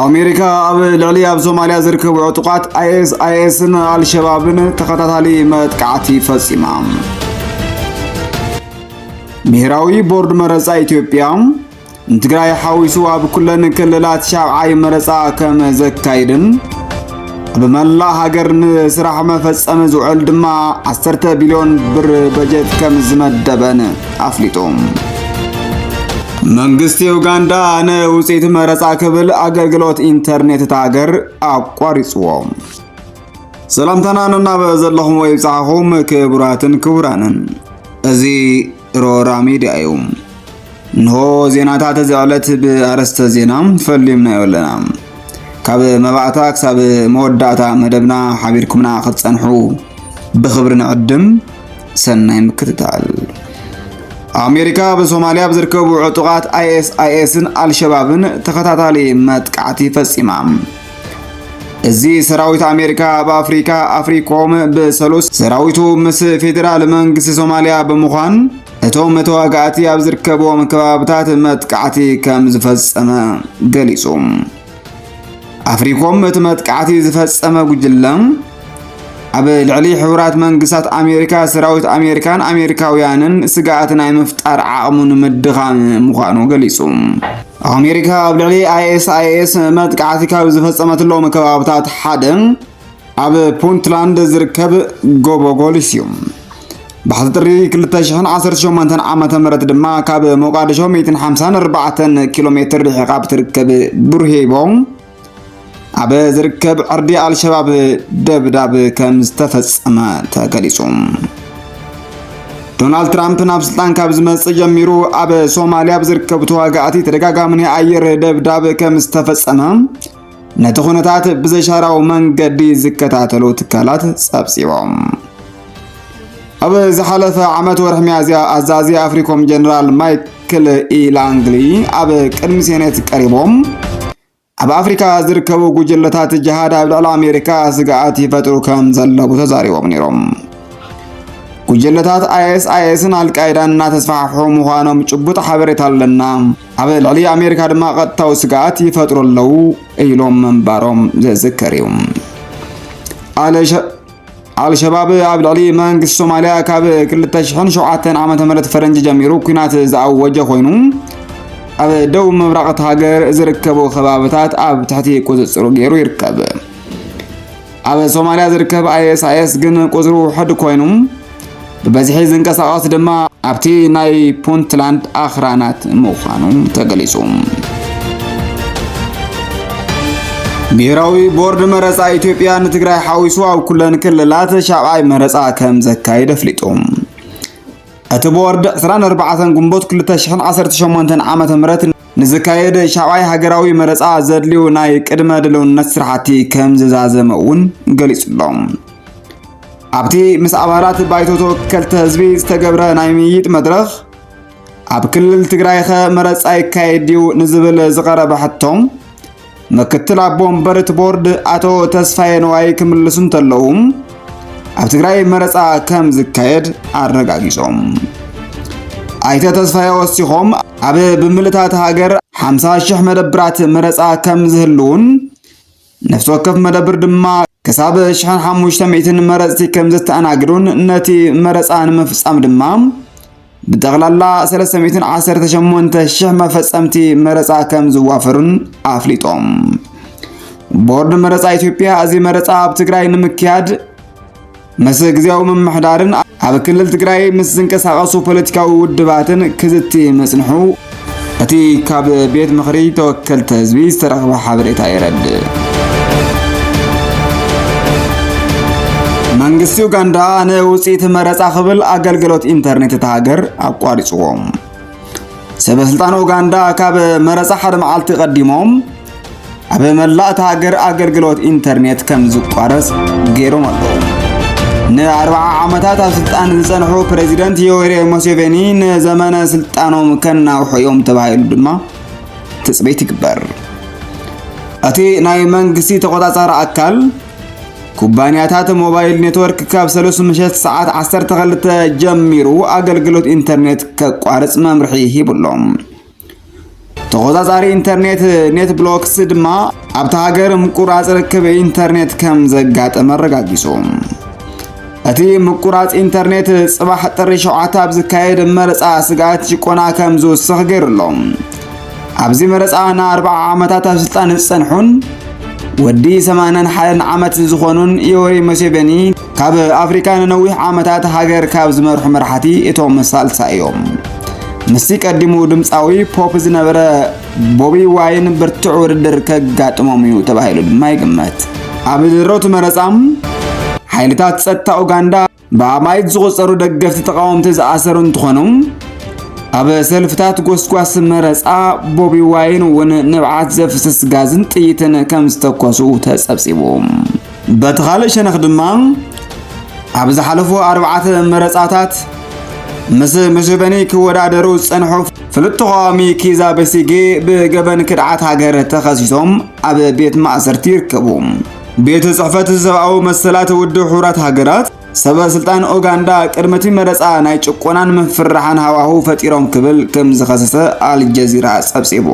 ኣሜሪካ ኣብ ልዕሊ ኣብ ሶማልያ ዝርከቡ ዕጡቓት ኣይኤስኣይኤስን ኣልሸባብን ተኸታታሊ መጥቃዕቲ ፈጺማ። ብሄራዊ ቦርድ መረፃ ኢትዮጵያ ንትግራይ ሓዊሱ ኣብ ኩለን ክልላት ሻብዓይ መረፃ ከም ዘካይድን ብመላ ሃገር ንስራሕ መፈጸሚ ዝውዕል ድማ 10 ቢልዮን ብር በጀት ከም ዝመደበን ኣፍሊጡ። መንግስቲ ዩጋንዳ ንውፅኢት መረፃ ክብል ኣገልግሎት ኢንተርኔት እታ ሃገር ኣቋሪፅዎ። ሰላምታና ነናበ ዘለኹም ወይ ብፅሓኹም ክቡራትን ክቡራንን እዚ ሮራ ሚድያ እዩ። እንሆ ዜናታት እዚ ዕለት ብኣረስተ ዜና ፈሊምናዮ ኣለና። ካብ መባእታ ክሳብ መወዳእታ መደብና ሓቢርኩምና ክትጸንሑ ብኽብሪ ንዕድም። ሰናይ ምክትታል። ኣሜሪካ ብሶማልያ ኣብ ዝርከቡ ዕጡቓት ኣይኤስኣይኤስን ኣልሸባብን ተኸታታሊ መጥቃዕቲ ፈጺማ። እዚ ሰራዊት ኣሜሪካ ኣብ ኣፍሪካ ኣፍሪኮም ብሰሉስ ሰራዊቱ ምስ ፌዴራል መንግስቲ ሶማሊያ ብምዃን እቶም ተዋጋእቲ ኣብ ዝርከብዎም ከባብታት መጥቃዕቲ ከም ዝፈጸመ ገሊጹ። ኣፍሪኮም እቲ መጥቃዕቲ ዝፈጸመ ጉጅለ ኣብ ልዕሊ ሕቡራት መንግስታት ኣሜሪካ ሰራዊት ኣሜሪካን ኣሜሪካውያንን ስግኣት ናይ ምፍጣር ዓቕሙ ንምድኻም ምዃኑ ገሊጹ። ኣሜሪካ ኣብ ልዕሊ ኣይኤስኣይኤስ መጥቃዕቲ ካብ ዝፈጸመትሎም ከባብታት ሓደ ኣብ ፑንትላንድ ዝርከብ ጎቦ ጎሊስ እዩ። ባሕቲ ጥሪ 2018 ዓ ም ድማ ካብ ሞቃዲሾ 154 ኪሎ ሜትር ርሒቓ ብትርከብ ቡርሄቦ ኣብ ዝርከብ ዕርዲ ኣልሸባብ ደብዳብ ከም ዝተፈጸመ ተገሊጹ። ዶናልድ ትራምፕ ናብ ስልጣን ካብ ዝመጽእ ጀሚሩ ኣብ ሶማልያ ኣብ ዝርከቡ ተዋጋእቲ ተደጋጋሚ ናይ ኣየር ደብዳብ ከም ዝተፈጸመ ነቲ ኩነታት ብዘሻራዊ መንገዲ ዝከታተሉ ትካላት ጸብጺቦም። ኣብ ዝሓለፈ ዓመት ወርሒ ሚያዝያ ኣዛዚ ኣፍሪኮም ጀነራል ማይክል ኢላንግሊ ኣብ ቅድሚ ሴኔት ቀሪቦም ኣብ ኣፍሪካ ዝርከቡ ጉጅለታት ጅሃድ ኣብ ልዕሊ ኣሜሪካ ስግኣት ይፈጥሩ ከም ዘለዉ ተዛሪቦም ነይሮም። ጉጅለታት ኣይኤስ ኣይኤስን ኣልቃይዳን እናተስፋሕፍሑ ምዃኖም ጭቡጥ ሓበሬታ ኣለና፣ ኣብ ልዕሊ ኣሜሪካ ድማ ቀጥታዊ ስግኣት ይፈጥሩ ኣለዉ ኢሎም ምንባሮም ዝዝከር እዩ። ኣልሸባብ ኣብ ልዕሊ መንግስቲ ሶማልያ ካብ 2007 ዓ ም ፈረንጂ ጀሚሩ ኩናት ዝኣወጀ ኮይኑ ኣብ ደቡብ ምብራቕ እቲ ሃገር ዝርከቡ ከባብታት ኣብ ትሕቲ ቁፅፅሩ ገይሩ ይርከብ ኣብ ሶማልያ ዝርከብ ኣይኤስኣይኤስ ግን ቁፅሩ ውሕድ ኮይኑ ብበዝሒ ዝንቀሳቐስ ድማ ኣብቲ ናይ ፑንትላንድ ኣኽራናት ምዃኑ ተገሊጹ። ብሄራዊ ቦርድ መረፃ ኢትዮጵያ ንትግራይ ሓዊሱ ኣብ ኩለን ክልላት ሻብዓይ መረፃ ከም ዘካይድ ኣፍሊጡ። እቲ ቦርድ 24 ግንቦት 2018 ዓ ም ንዝካየድ ሻብዓይ ሃገራዊ መረፃ ዘድልዩ ናይ ቅድመ ድልውነት ስራሕቲ ከም ዝዛዘመ እውን ገሊፁሎም ኣብቲ ምስ ኣባላት ባይቶ ተወከልቲ ህዝቢ ዝተገብረ ናይ ምይይጥ መድረኽ ኣብ ክልል ትግራይኸ መረፃ ይካየድ ድዩ ንዝብል ዝቐረበ ሕቶ ምክትል ኣቦ ወንበር እቲ ቦርድ ኣቶ ተስፋዬ ነዋይ ክምልሱ እንተለዉ ኣብ ትግራይ መረፃ ከም ዝካየድ ኣረጋጊፆም። ኣይተ ተስፋዬ ወሲኾም ኣብ ብምልእታት ሃገር 50 ሽሕ መደብራት መረፃ ከም ዝህልውን ነፍሲ ወከፍ መደብር ድማ ክሳብ ሽሕን ሓሙሽተ ሚእትን መረፅቲ ከም ዘተኣናግዱን ነቲ መረፃ ንምፍፃም ድማ ብጠቕላላ 318 ሽሕ መፈፀምቲ መረፃ ከም ዝዋፈሩን ኣፍሊጦም። ቦርድ መረፃ ኢትዮጵያ እዚ መረፃ ኣብ ትግራይ ንምክያድ ምስ ግዜያዊ ምምሕዳርን ኣብ ክልል ትግራይ ምስ ዝንቀሳቐሱ ፖለቲካዊ ውድባትን ክዝቲ ምጽንሑ እቲ ካብ ቤት ምኽሪ ተወከልቲ ህዝቢ ዝተረኽበ ሓበሬታ የረድእ። መንግስቲ ኡጋንዳ ንውፅኢት መረፃ ክብል ኣገልግሎት ኢንተርኔት እታ ሃገር ኣቋሪፅዎም ሰበስልጣን ኡጋንዳ ካብ መረፃ ሓደ መዓልቲ ቀዲሞም ኣብ መላእ እቲ ሃገር ኣገልግሎት ኢንተርኔት ከም ዝቋረፅ ገይሮም ኣለዉ ንኣርብዓ ዓመታት ኣብ ስልጣን ዝፀንሑ ፕሬዚደንት ዮዌሪ ሙሴቬኒ ንዘመነ ስልጣኖም ከናውሑ እዮም ተባሂሉ ድማ ትፅቢት ይግበር እቲ ናይ መንግስቲ ተቆፃፃሪ ኣካል ኩባንያታት ሞባይል ኔትወርክ ካብ ሰሉስ ምሸት ሰዓት 12 ጀሚሩ ኣገልግሎት ኢንተርኔት ከቋርጽ መምርሒ ሂቡሎም ተቆጻጻሪ ኢንተርኔት ኔት ብሎክስ ድማ ኣብታ ሃገር ምቁራጽ ርክብ ኢንተርኔት ከም ዘጋጠመ ኣረጋጊጹ። እቲ ምቁራጽ ኢንተርኔት ጽባሕ ጥሪ ሸውዓተ ኣብ ዝካየድ መረጻ ስግኣት ጭቆና ከም ዝውስኽ ገይሩ ኣሎ። ኣብዚ መረጻ ንኣርብዓ ዓመታት ኣብ ስልጣን ዝጸንሑን ወዲ ሰማንን ሓደን ዓመት ዝኾኑን ዮወሪ ሙሴቬኒ ካብ ኣፍሪካ ንነዊሕ ዓመታት ሃገር ካብ ዝመርሑ መራሕቲ እቶም ሳልሳ እዮም። ምስቲ ቀዲሙ ድምፃዊ ፖፕ ዝነበረ ቦቢ ዋይን ብርቱዕ ውድድር ከጋጥሞም እዩ ተባሂሉ ድማ ይግመት። ኣብ ድሮ እቲ መረጻ ሓይልታት ጸጥታ ኡጋንዳ ብኣማኢት ዝቑጸሩ ደገፍቲ ተቓወምቲ ዝኣሰሩ እንትኾኑ ኣብ ሰልፍታት ጎስጓስ መረጻ ቦቢ ዋይን እውን ንብዓት ዘፍስስ ጋዝን ጥይትን ከም ዝተኮሱ ተጸብጺቡ በቲ ካልእ ሸነኽ ድማ ኣብ ዝሓለፉ ኣርባዕተ መረጻታት ምስ ሙሴቨኒ ክወዳደሩ ዝጸንሑ ፍሉጥ ተቓዋሚ ኪዛ በሲጌ ብገበን ክድዓት ሃገር ተኸሲሶም ኣብ ቤት ማእሰርቲ ይርከቡ። ቤት ጽሕፈት ሰብኣዊ መሰላት ውድብ ሕቡራት ሃገራት ሰበ ስልጣን ኡጋንዳ ቅድሚ እቲ መረጻ ናይ ጭቆናን ምፍርራሕን ሃዋህው ፈጢሮም ክብል ከም ዝኸሰሰ ኣልጀዚራ ጸብጺቡ።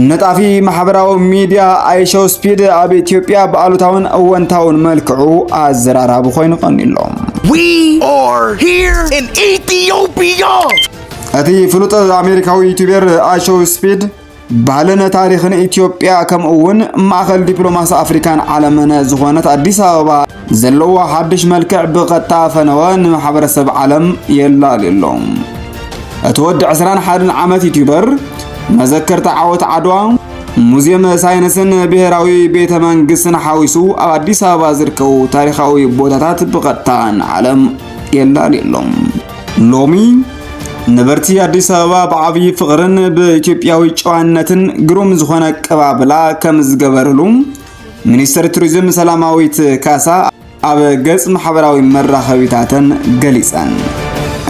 ነጣፊ ማሕበራዊ ሚድያ ኣይሸው ስፒድ ኣብ ኢትዮጵያ ብኣሉታውን እወንታውን መልክዑ ኣዘራራቢ ኮይኑ ቀኒሎ እቲ ፍሉጥ ኣሜሪካዊ ዩቱቤር ኣይሸው ስፒድ ባህልን ታሪኽን ኢትዮጵያ ከምኡ እውን ማእኸል ዲፕሎማሲ ኣፍሪካን ዓለምን ዝኾነት ኣዲስ ኣበባ ዘለዎ ሓድሽ መልክዕ ብቐጥታ ፈነወ ንማሕበረሰብ ዓለም የላልዩ ኣሎ። እቲ ወዲ 21 ዓመት ዩቲዩበር መዘከርታ ዓወት ዓድዋ ሙዚየም ሳይንስን ብሔራዊ ቤተ መንግስትን ሓዊሱ ኣብ ኣዲስ ኣበባ ዝርከቡ ታሪኻዊ ቦታታት ብቐጥታ ንዓለም የላልዩ ኣሎ። ሎሚ ነበርቲ ኣዲስ ኣበባ ብዓብዪ ፍቕርን ብኢትዮጵያዊ ጨዋነትን ግሩም ዝኾነ ኣቀባብላ ከም ዝገበርሉ ሚኒስትር ቱሪዝም ሰላማዊት ካሳ ኣብ ገጽ ማሕበራዊ መራኸቢታተን ገሊጸን።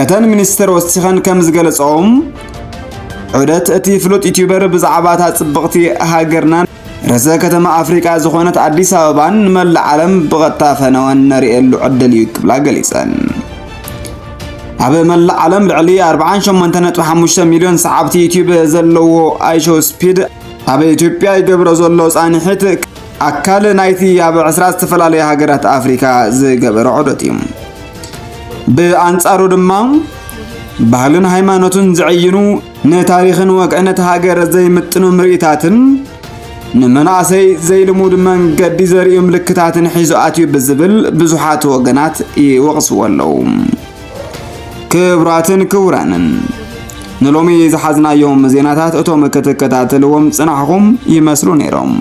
እተን ሚኒስትር ወሲኸን ከም ዝገለጸኦም ዑደት እቲ ፍሉጥ ዩቲዩበር ብዛዕባ እታ ጽብቕቲ ሃገርናን ርእሰ ከተማ ኣፍሪቃ ዝኾነት ኣዲስ ኣበባን ንመላእ ዓለም ብቐጥታ ፈነወን ነርእየሉ ዕድል እዩ ክብላ ገሊጸን። ኣብ መላእ ዓለም ልዕሊ 48.5 ሚልዮን ሰዓብቲ ዩቲዩብ ዘለዎ ኣይሾ ስፒድ ኣብ ኢትዮጵያ ይገብሮ ዘሎ ጻንሒት ኣካል ናይቲ ኣብ 20 ዝተፈላለዩ ሃገራት ኣፍሪካ ዝገበረ ዑደት እዩ። ብኣንጻሩ ድማ ባህልን ሃይማኖትን ዝዕይኑ ንታሪኽን ወግዕነት ሃገር ዘይምጥኑ ምርኢታትን ንመናእሰይ ዘይልሙድ መንገዲ ዘርእዩ ምልክታትን ሒዙ ኣትዩ ብዝብል ብዙሓት ወገናት ይወቕስዎ ኣለዉ። ክብራትን ክቡራንን ንሎሚ ዝሓዝናዮም ዜናታት እቶም ክትከታተልዎም ጽናሕኹም ይመስሉ ነይሮም።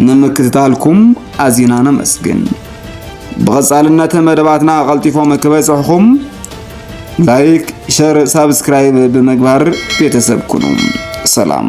ንምክትታልኩም ኣዚና ነመስግን። ብቐጻልነት መደባትና ቐልጢፎም ክበጽሕኹም ላይክ፣ ሸር፣ ሳብስክራይብ ብምግባር ቤተሰብ ኩኑ። ሰላም